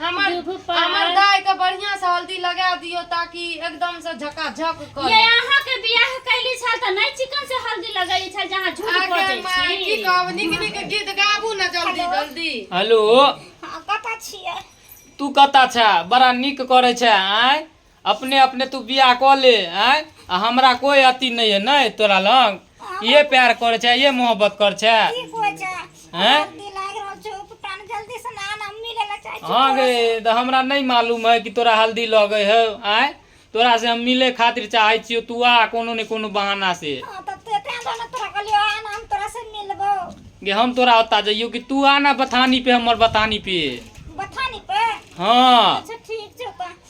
हमर दूधू पर हमर गाय के बढ़िया से हल्दी लगा दियो ताकि एकदम से झकाझक ये करे अहाँ के बियाह कैली छल त नहीं चिकन से हल्दी लगैली छल जहाँ झूठ आगे बजै माय की छी कहब नीक नीक गीत गाबू ना जल्दी जल्दी हेलो हाँ, कतऽ छियै तू कतऽ छे बड़ा नीक करै छे आँय अपने अपने तू बियाह कऽ ले आँय आ हमरा कोइ अथी नहि है नहि तोरा लग ये प्यार कर छै ये मोहब्बत कर छै की कोइ छै हैं? जल्दी लागि रहल छै उपटान जल्दी से नाम हम मिले ला चाहै छी हाँ गे तऽ हमरा नहि मालूम है कि तोरा हल्दी लगे है आँय तोरा से हम मिले खातिर चाहै छियो तू आ कोनो ने कोनो बहाना से हाँ, तब तो तें दोनों तोरा कहलियो आ ना हम तोरा से मिलबो गे हम तोरा ओता जइयो कि तू आना बथानी पे हमर बथानी पे बथानी पे हाँ अच्छा ठीक छै तऽ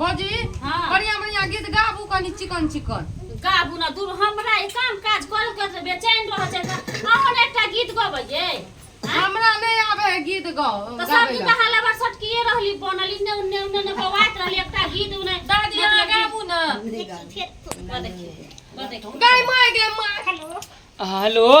भौजी हाँ। बढ़िया बढ़िया गीत गाबू कनी चिकन चिकन गाबू ना दूर हमरा ई काम काज करब के से बेचैन रह छै अहन एकटा गीत गबै जे हमरा नहीं आवे है गीत गाओ तो सब गाबे दिन ला। हाला बार सटकिए रहली बनल इन्ने उन्ने उन्ने ने बवात रहली एकटा गीत उन्ने दादी अहाँ गाबू ना गाय माय गे माय हेलो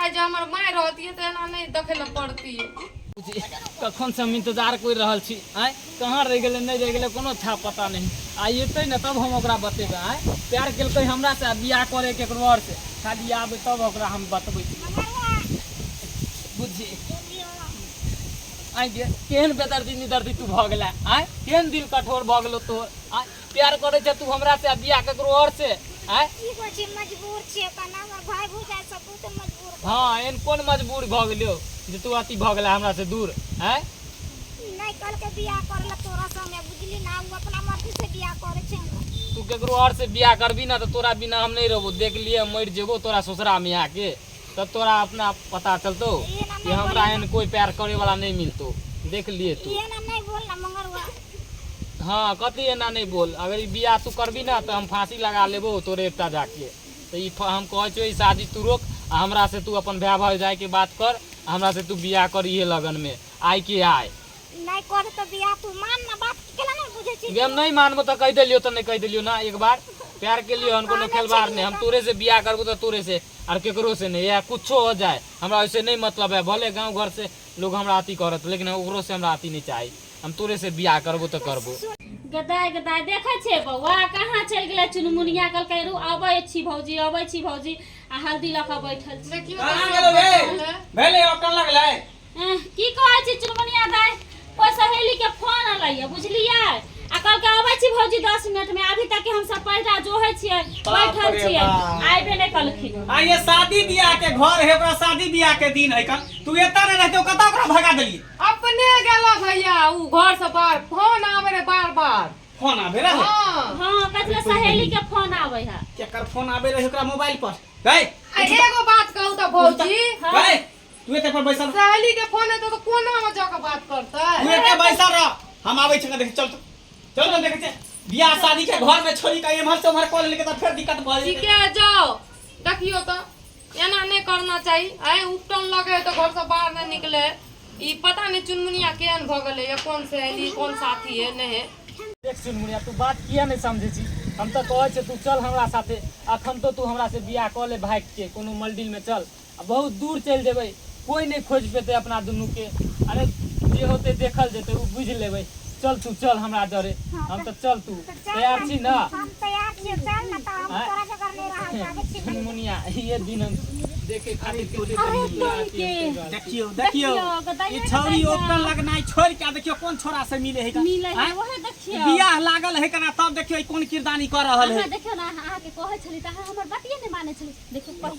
आइ जे हमर माय रहतियै तऽ एना नहि देखै लए पड़तियै कखन से हम इंतजार कर रहल छी आय कहाँ रह गए नहीं रह गए कोनो था पता नहीं आई अतै ने तब हम ओकरा बतेबै आय प्यार केलकै हमरा से बियाह करे के ककरो और से खाली आबे तब ओकरा हम बतबै बुझी आय गे केहन बेदर्दी निदर्दी तू भऽ गेला आय केहन दिल कठोर भऽ गेलो तोहर आय प्यार करे छे तू हमरा से बियाह ककरो और से हैं ई को छी मजबूर छी कना हमर भाई भूजा सब तू तो मजबूर भ- हाँ एन कोन मजबूर भ गेलो जे तू अति भ गेला हमरा से दूर हैं नहीं कल के बियाह कर ल तोरा संगे बुझली ना उ अपना मर्जी से बियाह करे छे तू केकरो और से बियाह करबी ना तो तोरा बिना हम नहीं रहबो देख लिए मर जेबो तोरा ससुरा में आके तब तोरा अपना पता चलतो कि हमरा एहन कोई प्यार करे वाला नहीं मिलतो देख लिए तू हाँ कथी एना नहीं बोल अगर ई बियाह तू करबी ना तो हम फांसी लगा लेबो तोरे एकटा जाके तो ई फ- हम कहे छो ई शादी तू रोक आ हमरा से तू अपन भाई भाई जाए के बात कर आ हमरा से तू बियाह कर इहे लगन में आय के आय नहीं कर तो बियाह तू मान ना बात केला नहीं बुझे छी जे हम नहीं मानबो तो कह देलियो तो नहीं कह देलियो ना एक बार प्यार के लिए हम कोनो खेलवार नहीं हम तोरे से बियाह करबो तो तोरे से आर केकरो से नहीं या कुछ हो जाए हमरा ऐसे नहीं मतलब है भले गाँव घर से लोग हमरा अति करत लेकिन ओकरो से हमरा अति नहीं चाहिए हम तोरे से बियाह करबो तो करबो गदाय गदाय देखे छे बौआ कहाँ चल गए चुनमुनिया कल कह रू अब छी भौजी अब छी भौजी आ हल्दी लख बैठल छी एह, की कहै छी चुनमुनिया दाय कोई सहेली के फोन अलैया बुझलियै आ कल के अबै छी भौजी 10 मिनट में अभी तक के हम सब पैसा जोहे छियै बाप बैठल रे छियै बाप। आइबे नै कलखिन आ ये शादी बियाह के घर है ओकरा शादी बियाह के दिन है का तू एता नहीं रहते कता ओकरा भगा देली अपने गेला भैया ऊ घर से बाहर फोन आवे रे बार बार फोन आबे रहे हाँ हां कतले सहेली के फोन आबै है केकर फोन आबे रहे ओकरा मोबाइल पर गए आ एगो बात कहू तो भौजी गए तू एते पर बैसल रह। सहेली के फोन एतो तो कोना में जाके बात तू करते एते बैसल रह हम आबै छी देख चल चल चल देख छै बियाह शादी के घर में छोड़ी के एम्हर से उम्हर कॉल लेके त फेर दिक्कत भ ठीक जेतै है जाओ देखियो तो एना नहीं करना चाहिए आए उपटन लगे तो घर से बाहर नहीं निकले ई पता नहीं चुनमुनिया केहन भ गेले या कौन सहेली कौन साथी है नहीं है देख सुन मुनिया तू बात किया नहीं समझे छी हम तो कहे छे तू चल हमरा साथे अखन तो तू हमरा से बियाह क ले भाग के कोनो मल्डिल में चल आ बहुत दूर चलि जेबै कोई नहि खोजि पेतै अपना दुनूके अरे जे होतै देखल जेतै ओ बुझि लेबै चल तू चल हमरा डरे हम तऽ चल तू तैयार छी ने हम तैयार छी चल ना तो हम तोरा जगह नहीं रहा जाबे छी मुनिया ये दिन हम देखे खातिर के देखियो देखियो ई छौरी ओकर लगनाइ छोड़ के देखियो कोन छोरा से मिले है मिले है ओहे देखियो बियाह लागल है कना तब देखियो कोन किरदानी कर रहल है देखियो ना अहाँ के कहै छली त अहाँ हमर बतिये नै माने छली देखियो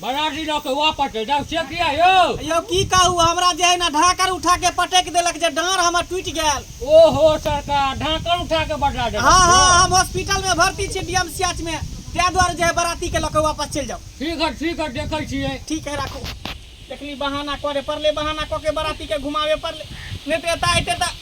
बराती लऽ के वापस चलि जाउ से किया यौ यौ की कहू हमरा जे अहिना ढाकर उठा के पटकि देलक जे डाँड़ हमर टूटि गेल ओहो सरकार ढाकन उठा के बजा देलक हँ हँ यौ। हम हॉस्पिटल में भर्ती छी डीएम सीएच में ताहि दुआरे जे है बराती के लऽ के वापस चलि जाउ ठीक है ठीक है देखै छियै ठीक है राखू देखली बहाना करे पड़ले बहाना कऽ के बराती के घुमावे पड़ले नहि तऽ एतऽ अयते तऽ